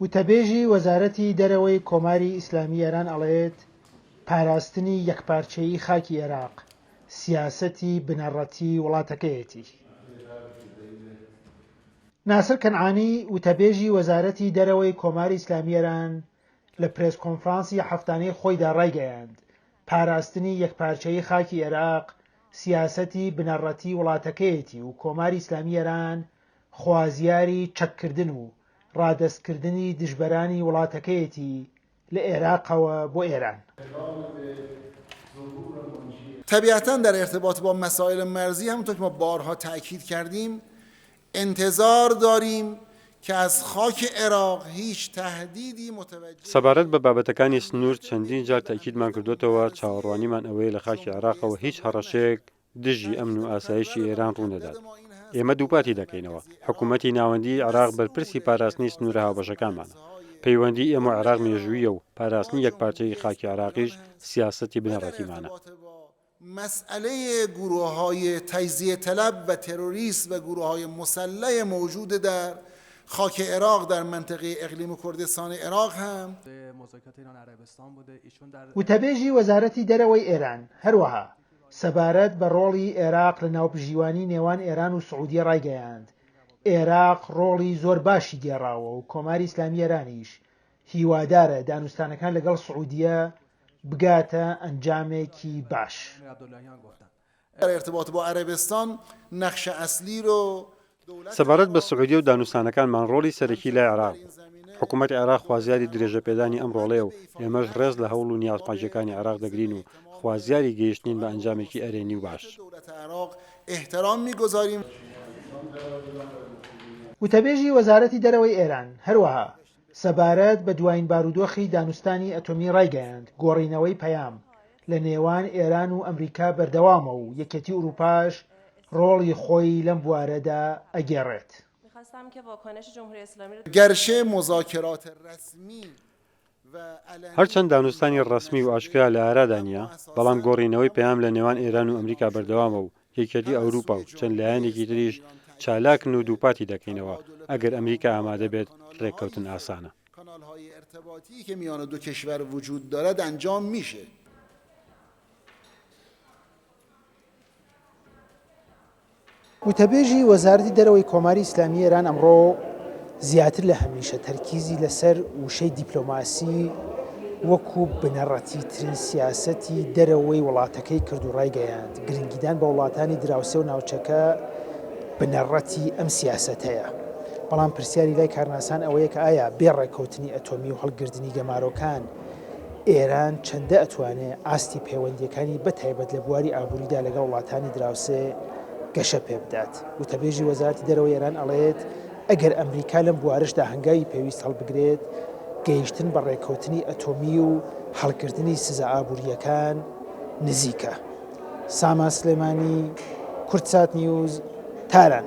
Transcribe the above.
وتەبێژی وەزارەتی دەرەوەی کۆماری ئیسلامی ئێران ئەڵێت، پاراستنی یەکپارچەیی خاکی ئێراق، سیاسەتی بنەڕەتی وڵاتەکەیەتی. ناسر کەنعانی، وتەبێژی وەزارەتی دەرەوەی کۆماری ئیسلامی ئێران لە پرێس کۆنفرانسی هەفتانەی خۆیدا ڕایگەیاند، پاراستنی یەکپارچەیی خاکی ئێراق، سیاسەتی بنەڕەتی وڵاتەکەیەتی و کۆماری ئیسلامی ئێران خوازیاری چەککردن و ڕادەستکردنی دژبەرانی وڵاتەکەیەتی لە ئێراقەوە بۆ ئێران. طبیعتا در ارتباط با مسائل مرزی همونطور که ما بارها تأکید کردیم انتظار داریم که از خاک عراق هیچ تهدیدی متوجه سەبارەت بە بابەتەکانی سنوور چەندین جار تەئکیدمان کردۆتەوە چاوەڕوانیمان ئەوەیە لە خاکی عێراقەوە هیچ هەڕەشەیەک دژی ئەمن و ئاسایشی ئێران ڕوونەدات. ئێمە دووپاتی دەکەینەوە، حکوومەتی ناوەندیی عێراق بەرپرسی پاراستنی سنوورە هاوبەشەکانمانە. پەیوەندیی ئێمە و عێراق مێژووییە و پاراستنی یەکپارچەیی خاکی عێراقیش سیاسەتی بنەڕەتیمانە. مسئلە گروههای تجزیه طلب و تروریست و گروههای مسلح موجود در خاک عراق در منطقه اقلیم کردستان عراق هم. وتەبێژی وەزارەتی دەرەوەی ئێران هەروەها سەبارەت بە ڕۆڵی ئێراق لە ناوبژیوانی نێوان ئێران و سعودیە ڕایگەیاند، ئێراق ڕۆڵی زۆر باشی گێڕاوە و کۆماری ئیسلامی ئێرانیش هیوادارە دانوستانەکان لەگەڵ سعودیە بگاتە ئەنجامێکی باش. سەبارەت بە سعودیە و دانوستانەکانمان ڕۆڵی سەرەکی لای عێراق بوو. حکوومەتی عێراق خوازیاری درێژەپێدانی ئەم ڕۆڵەیە و ئێمەش ڕێز لە هەوڵ و نیازپاکییەکانی عێراق دەگرین و خوازیاری گەیشتنین بە ئەنجامێکی ئەرێنی و باش. وتەبێژی وەزارەتی دەرەوەی ئێران هەروەها سەبارەت بە دوایین بارودۆخی دانوستانی ئەتۆمی ڕایگەیاند، گۆڕینەوەی پەیام لە نێوان ئێران و ئەمریکا بەردەوامە و یەکێتی ئورووپاش ڕۆڵی خۆی لەم بوارەدا ئەگێڕێت. هەرچەند دانوستانی ڕەسمی و ئاشکرا لە ئارادا نییە، بەڵام گۆڕینەوەی پەیام لە نێوان ئێران و ئەمریکا بەردەوامە و یەکێتی ئەوروپا و چەند لایەنێکی تریش چالاکن و دووپاتی دەکەینەوە، ئەگەر ئەمریکا ئامادە بێت، رێککەوتن ئاسانە. وتەبێژی وەزارەتی دەرەوەی کۆماری ئیسلامیی ئێران ئەمڕۆ، زیاتر لە هەمیشە تەرکیزی لەسەر وشەی دیپلۆماسی وەکو بنەڕەتیترین سیاسەتی دەرەوەی وڵاتەکەی کرد و ڕایگەیاند، گرنگیدان بە وڵاتانی دراوسێ و ناوچەکە بنەڕەتی ئەم سیاسەتەیە. بەڵام پرسیاری لای کارناسان ئەوەیە کە ئایا بێ ڕێککەوتنی ئەتۆمی و هەڵگردنی گەمارۆکان، ئێران چەندە ئەتوانێت ئاستی پەیوەندییەکانی بە تایبەت لە بواری ئابووریدا لەگەڵ وڵاتانی دراوسێ گەشە پێبدات؟ وتەبێژی وەزارەتی دەرەوەی ئێران ئەڵێت، ئەگەر ئەمریکا لەم بوارەشدا هەنگاوی پێویست هەڵبگرێت، گەیشتن بە ڕێککەوتنی ئەتۆمی و هەڵگرتنی سزا ئابوورییەکان نزیکە. سامان سلێمانی، کوردسات نیوز، تاران.